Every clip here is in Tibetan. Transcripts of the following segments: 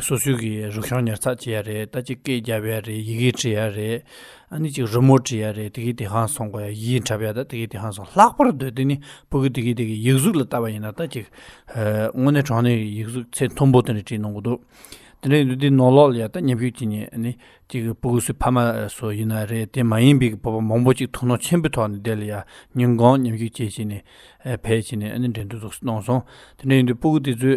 སོ་སོའི་གི་རུ་ཤོང་ཉར་ཚགས་བྱེད་ཡ་རེད་ད་ཅིག་སྐད་རྒྱབ་ཡ་རེད་ཡི་གེ་བྲི་ཡ་རེད་ཨ་ནི་ཅིག་རི་མོ་བྲི་ཡ་རེད་དེ་གི་དེ་ཧང་སོང་གོ་ཡ་ཡིད་འཁྲབ་ཡ་ད་དེ་གི་དེ་ཧང་སོང་ལྷག་པར་དུ་དེ་ནི་བུ་གི་དེ་གི་དེ་གི་ཡིག་གཟུགས་ལ་བལྟ་བ་ཡིན་ན་ད་ཅིག་དངོས་གནས་གྲོང་ནས་ཡིག་གཟུགས་ཚད་མཐོན་པོ་དེ་འདྲ་བྲིས་གནང་གི་འདུག་དེ་འདྲ་ཡིན་དུས་དེ་ནོར་ལོག་ལ་ཡ་ད་ཉམས་ཤུགས་ཀྱིས་ནི་ཨ་ནི་ཅིག་བུ་གུ་སུའི་ཕ་མ་སུ་ཡིན་ན་རེད་དེ་མ་ཡིན་པའི་གི་བུ་པ་མང་པོ་ཅིག་དོ་སྣང་ཆེན་པོའི་ཐོག་ནས་བསྡད་ལ་ཡ་ཉིན་གང་ཉམས་ཤུགས་ཆེ་བྱས་ནས་བས་བྱས་ནས་ཨ་ནི་འགྲན་བསྡུར་སོགས་སུ་གནང་སོང་དེ་འདྲ་ཡིན་དུས་བུ་གུ་དེ་ཚོའི་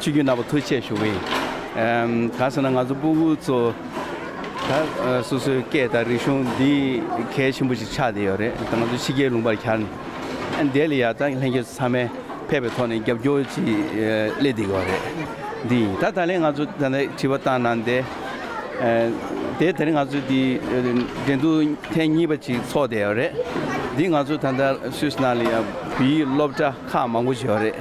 ཆོས་རྒྱུད་ནག་པོ་ཐུགས་ཆེ་ཞུ་བས། གང་ཟེར་ན་ང་ཚོ་སྤུན་དགུ་ཚོ། ད་སོ་སོའི་སྐད་དང་རིག་གཞུང་འདི་གལ་ཆེན་པོ་ཞིག་ཆགས་བསྡད་ཡོད་རེད་ད་ང་ཚོ་ཕྱི་རྒྱལ་ལུང་པར་གྱར་ནས། འདས་ལ་ཡག་ད་ལྷན་རྒྱས་ཚང་མས་ཕེབས་པའི་ཐོག་ནས་རྒྱབ་སྐྱོར་ཅིག་སླེབས་བསྡད་ཡོད་རེད། འདི་ཡིན་ད་ད་ལན་ང་ཚོ་ད་དྲི་བ་བཏང་གནང་སྟེ། དེ་དེར་ང་ཚོ་འདི་འགྲན་བསྡུར་ཐེངས་གཉིས་པ་ཅིག་ཚོགས་བསྡད་ཡོད་རེད། འདི་ང་ཚོ་ད་ལྟ་སུད་སི་ནང་ལ་ཡང་བོད་ཡིག་སློབ་གྲྭ་ཁག་མང་པོ་ཞིག་ཡོད་རེད།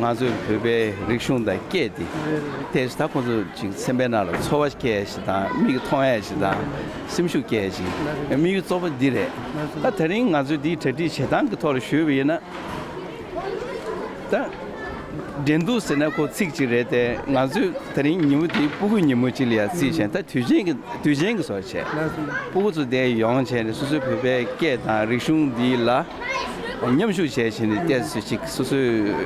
ང་ཚོས་བོད་པའི་རིག་གཞུང་དང་སྐད་དེ་ཐད་ད་ཁོ་ཚོ་ཅིག་སེམས་པའི་ནང་ལ་ཚོར་བ་སྐྱེ་ཡས་ཤིག་དང་མིག་གི་མཐོང་ཡས་ཤིག་དང་སེམས་ཤུགས་སྐྱེ་ཡས་ཤིག་དམིགས་ཡུལ་གཙོ་བོ་འདི་རེད་ད་ད་རིང་ང་ཚོས་འདིའི་གྲ་སྒྲིག་བྱེད་སྟངས་ཀྱི་ཐོག་ལ་ཞུས་པ་ཡིན་ན་ད་འགྲན་འདུག་ཟེར་ན་ཁོ་ཚིག་ཅིག་རེད་དེ་ང་ཚོས་ད་རིང་ཉིན་མོ་འདི་སྤུ་གུ་ཉིན་མོ་ཅིག་ལ་ཡང་བརྩིས་བྱས་ན་ད་དུས་ཆེན་གྱི་དུས་ཆེན་གྱི་སོགས་བྱས་སྤུ་གུ་ཚོ་འདས་ཡོང་བྱས་ནས་སོ་སོའི་བོད་པའི་སྐད་དང་རིག་གཞུང་འདི་ལ་མཉམ་ཞུགས་བྱས་ཟིན་ནས་གཏད་སོ་ཅིག་སོ་སོས་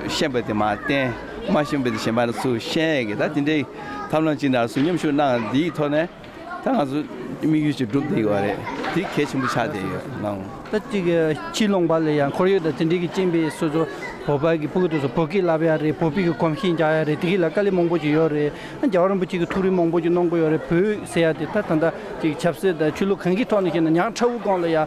ཤེས་པ་དེ་མ་བསྟན་མ་ཤེས་པ་དེ་གཞན་པར་སུ་བཤད་གི་ད་དེ་འདྲའི་ཐབས་ལམ་ཅིག་ནར་སོན་མཉམ་ཞུགས་གནང་བ་དེའི་ཐོག་ནས་ད་ང་ཚོ་དམིགས་ཡུལ་ཅིག་འགྲུབ་བསྡད་ཡོད་རེད་དེ་གལ་ཆེན་པོ་ཆགས་བསྡད་ཡོད་གནང། ད་ཅིག་གི་ཕྱིར་ལོག་པ་ལ་ཡང་ཁོར་ཡུག་དང་དེ་འབྲེལ་གྱི་རྐྱེན་པས་སོ་སོ་བོད་པ་གི་པུག་ཏུ་སོ་བོད་སྐད་བསླབ་ཡ་རེད་བོད་པིག་གི་གོམ་གཤིས་འཇགས་ཡ་རེད་དེ་གི་ལ་དཀའ་ལས་མང་པོ་ཅིག་ཡོད་རེད་རྒྱ་གར་རིན་པོ་ཆེ་གི་ཐུགས་རེ་མང་པོ་ཅིག་གནང་དགོས་ཡོད་རེད་བོད་ཟེར་ཡ་དེ་ད་ད་ད་ཅིག་ཆབ་སྲིད་དང་ཆོས་ལུགས་གང་གི་ཐོག་ནས་བཤད་ན་ཉག་ཕྲ་བོ་སྒང་ལ་ཡང་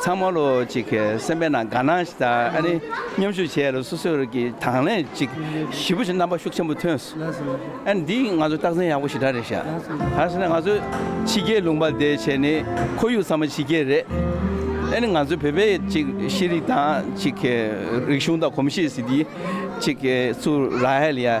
ཚང་མ་ལོ་གཅིག་གསན་པའི་ནང་དགའ་སྣང་ཞིག་དང་མཉམ་ཞུགས་བྱས་ལ་སོ་སོར་གྱི་དང་ལེན་ཅིག་ཞིབ་པོ་བྱས་རྣམ་པ་ཤུགས་ཆེན་པོ་ཐོན་སོང། འདི་ང་ཚོར་རྟགས་མཚན་ཡག་པོ་ཞིག་འདྲ་རེད་ཤག་གང་ཟེར་ན་ང་ཚོ་ཕྱི་རྒྱལ་ལུང་པ་བསྡད་བྱས་ནས་ཁོར་ཡུག་ཚང་མ་ཕྱི་རྒྱལ་རེད། ཨ་ནི་ང་ཚོ་བོད་པའི་ཅིག་ཤེས་རིག་དང་ཅིག་རིག་གཞུང་དང་གོམས་གཤིས་ཟིག་འདི་ཅིག་ཚུར་ར་ཧེ་ལི་ཡ།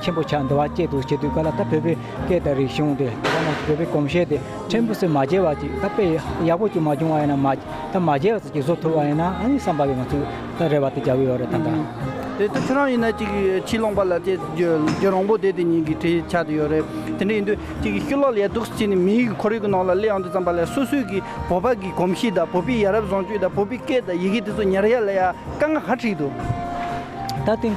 ཆེན་པོ་ཕྱག་འདི་བ་སྐྱེད་དུ་བྱེད་དུས་ཀ་ལ་ད་བོད་པའི་སྐད་དང་རིག་གཞུང་དེ་དེ་ལ་ན་བོད་པའི་གོམས་གཤེས་དེ་ཕྲན་བུ་སུས་མ་བརྗེད་བ་ཅིག་ད་དཔེ་ཡག་པོ་ཅིག་མ་བྱུང་བ་ཡིན་ན་མ་ད་མ་བརྗེད་བ་ཚོ་ཅིག་བཟོ་ཐུབ་བ་ཡིན་ན་ཨ་ནི་བསམ་པ་ཡོད་མ་ཚུགས་ད་རེ་བ་དེ་རྒྱག་གི་ཡོད་རེད་ད་ད། དེ་ད་ཁྱོད་རང་ཡིན་ན་ཅིག་ཕྱི་ལོང་པ་ལ་དེ་རྒྱུ་རང་པོ་དེ་དེ་ཉིད་ཀྱི་དེ་ཆགས་དེ་ཡོད་རེད་དེ་འདྲ་ཡིན་དུས་ཅིག་ཤུ་ལོག་ལས་སྡུག་ཅིག་ནི་མིའི་ཁོར་ཡུག་གི་ནང་ལ་གླེ་ཡང་དེ་ཙམ་པ་ལས་སོ་སོའི་གི་བོད་པ་གི་གོམས་གཤིས་དང་བོད་པའི་ཡ་རབས་བཟང་སྤྱོད་དང་བོད་པའི་སྐད་དང་ཡི་གེ་དེ་ཚོ་ཉར་ཡ་ལ་ཡ་དཀའ་ང་ཧ་ཁྲིག་འདུག། ད་དེང་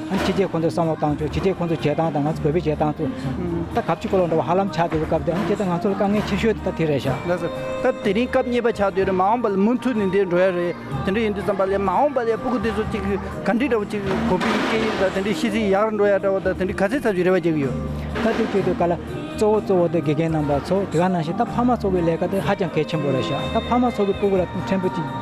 ཕྱི་རྒྱལ་ཁོང་ཚོས་བསམ་བློ་བཏང་ཆོག་ཕྱི་རྒྱལ་ཁོང་ཚོས་བྱེད་སྟངས་དང་ང་ཚོས་བོད་པས་བྱེད་སྟངས་ཚོ་ད་གབ་ཅིག་ཀོ་ལོག་འདྲ་བ་ཧ་ལམ་ཆགས་བསྡད་པའི་སྐབས་དེ་ཨང་ཀྱེ་ད་ང་ཚོ་ལ་དཀའ་ངལ་ཆེ་ཤོས་དེ་ད་དེ་རེད་ཤག། ལགས་སོ། ད་དེ་རིང་སྐབས་རྙེད་པ་ཆགས་བསྡད་རེད་མ་འོངས་པ་ལ་མུ་མཐུད་ནས་འདིར་འགྲོ་ཡ་རེད་དེ་འདྲ་ཡིན་དུས་ཙམ་པ་ལས་མ་འོངས་པ་ལས་སྤུ་གུ་དེ་ཚོ་གཅིག་གི་ག་འདྲི་འདྲ་བོ་གཅིག་གོ་ཕི་ཡིས་སྐད་ཡིག་དང་དེ་འདྲའི་ཤི་ཚེ་ཡག་རུ་འགྲོ་ཡ་འདྲ་བོ་དང་དེ་འདྲའི་ག་ཚད་ཚབ་ཀྱི་རེ་བ་རྒྱག་གི་ཡོད། ད་དེ་ཁྱོད་ཚོས་ག་ལ། གཙོ་བོ་གཙོ་བོ་དེ་དགེ་རྒན་རྣམ་པ་ཚོ་དེ་ག་ནང་བཞིན་ད་ཕ་མ་ཚོ་གི་ལས་ཀ་དེ་ཧ་ཅང་གལ་ཆེན་པོ་རེད་ཤག་ད་ཕ་མ་ཚོ་གི་སྤུ་གུ་ལ་ཕྲན་བུ་གཅིག